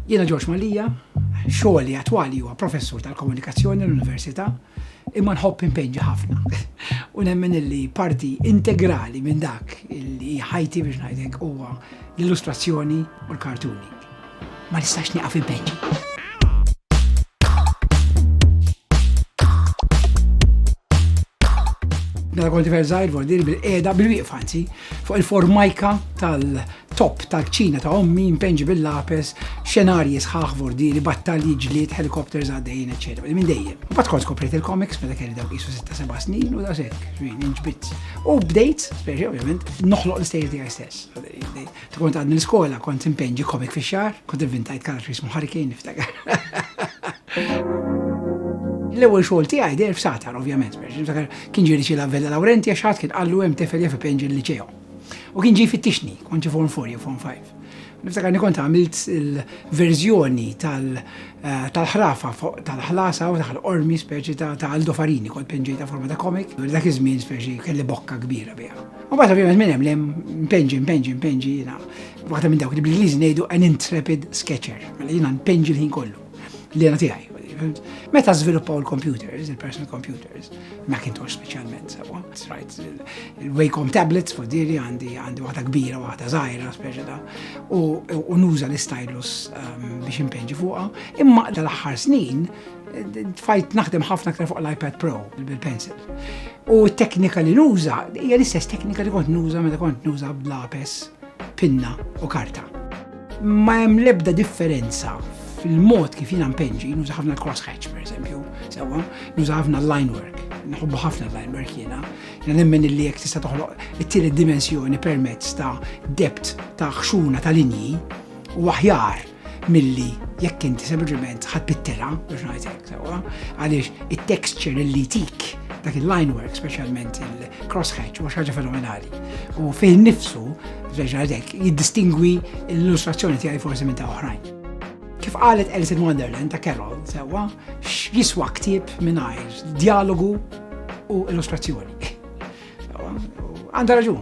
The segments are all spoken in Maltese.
Jiena Ġorġ Malija, xogħli attwali huwa professur tal-komunikazzjoni l-Università, imma nħobb impenġi ħafna. U nemmen illi parti integrali minn dak illi ħajti biex ngħidlek huwa l-illustrazzjoni u l-kartuni. Ma nistax nieqaf impenġi. Mela konti verżajr vordir bil-qeda bil-wieqfanzi fuq il-formajka Topp tal-kċina ta' ommi impenġi bil-lapes, xenarji sħaħ vordieri, battalji ġlied, helikopters għaddejjin, eċċetera. Li minn dejjem. Bat kont skoprejt il-komiks meta kelli dawk isu 6-7 snin u daqshekk, xwien inġbit. U bdejt, speċi ovvjament, noħloq l-istejjer tiegħi stess. Tkun għad mill-iskola kont impenġi komik fix-xahar, kont inventajt karattri jismu Hurricane niftakar. L-ewwel xogħol tiegħi der f'satar ovvjament, kien ġiri xi lavella Lawrenti għax ħadd kien qallu hemm tefel jaf ipenġi l-liċew. U kien ġi fittixni, kont ġi form 4 jew form 5. Niftakar ni kont għamilt il-verżjoni eh, tal-ħrafa tal-ħlasa u taħl ormi speċi ta' Aldo Farini kont penġejta forma ta' komik. Dak iż-żmien speċi kelli bokka kbira biha. U bata ovvjament minn hemm lem penġi, penġi, penġi jiena. Waħda minn dawk li bl-Ingliżi ngħidu an intrepid sketcher, mela jiena npenġi l-ħin kollu. Li għana tiegħi. Meta żviluppaw il-computers, il-personal computers, Macintosh speċjalment, sawa, right, il-Wacom tablets fuq diri għandi għandi waħda kbira, waħda żgħira, speċa da, u nuża l-stylus um, biex impenġi fuqha. Imma tal-aħħar snin fajt naħdem ħafna aktar fuq l-iPad Pro bil-pencil. U t-teknika li nuża, hija l-istess teknika li kont nuża meta kont nuża bl-lapes, pinna u karta. Ma hemm l-ebda differenza fil-mod kif jiena mpenġi, nuża ħafna l-cross hatch per esempio, sewa, nuża ħafna l-line work, naħobbu ħafna l-line work jiena, jiena nemmen li jek tista' toħloq it-tielet dimensjoni permezz ta' dept ta' xuna ta' linji u aħjar milli jekk inti sempliċement ħadd pittela biex ngħidlek sewa, għaliex it-texture li tik Dak il-line work, specialment il-crosshatch, u xaġa fenomenali. U fejn nifsu, reġa dek, jiddistingwi l-illustrazzjoni tiegħi forsi minn ta' oħrajn. Kif qalet Alice in Wonderland ta' Carol, sewa, jiswa ktib minn dialogu u illustrazzjoni. Għanda raġun,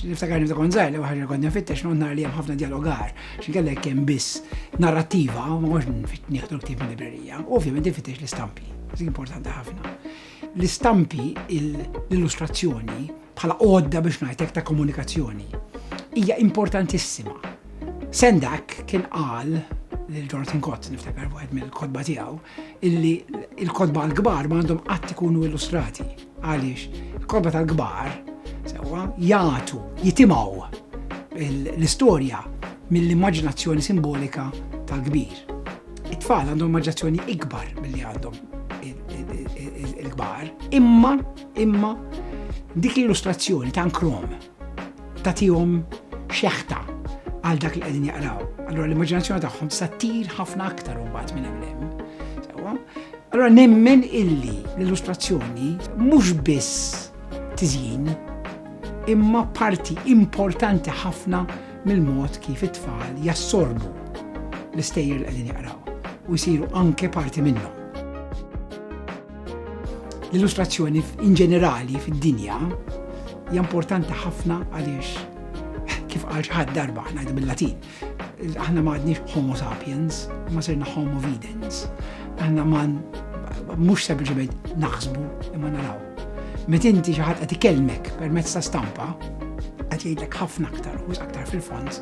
niftakar niftakar konzaj li waħħar konna fittex non nar li hemm ħafna dialogar, xinkella jekk hemm biss narrativa, ma mhux nieħdu ktieb minn librerija, u ovvjament fittex l-istampi, importanti ħafna. L-istampi, l-illustrazzjoni, bħala għodda biex ngħidlek ta' komunikazzjoni, hija importantissima. Sendak kien qal lil Jonathan Kott, niftakar wieħed mill-kodba tiegħu, illi il-kotba għal-kbar ma għandhom qatt ikunu illustrati. Għaliex, il-kotba tal-kbar, sewa, jgħatu, jitimaw l-istorja mill-immaġinazzjoni simbolika tal-kbir. It-tfal għandhom immaġinazzjoni ikbar mill-li għandhom il-kbar, imma, imma, dik l-illustrazzjoni ta' krom tagħtihom xeħta għal dak li qegħdin jaqraw. Allura l-immaġinazzjoni tagħhom tista' tir ħafna aktar imbagħad minn hemm Allura nemmen illi l-illustrazzjoni mhux biss tiżjin imma parti importanti ħafna mill-mod kif it-tfal jassorbu l-istejjer li qegħdin jaqraw u jsiru anke parti minnhom. L-illustrazzjoni in ġenerali fid-dinja hija importanti ħafna għaliex kif għal ħad darba ngħidu bil-Latin. Aħna ma għadniex homo sapiens, ma sirna homo videns. Aħna ma mhux sempliċement naħsbu imma naraw. Meta inti xi ħadd qed ikellmek permezz ta' stampa, qed jgħidlek ħafna aktar u aktar fil-fond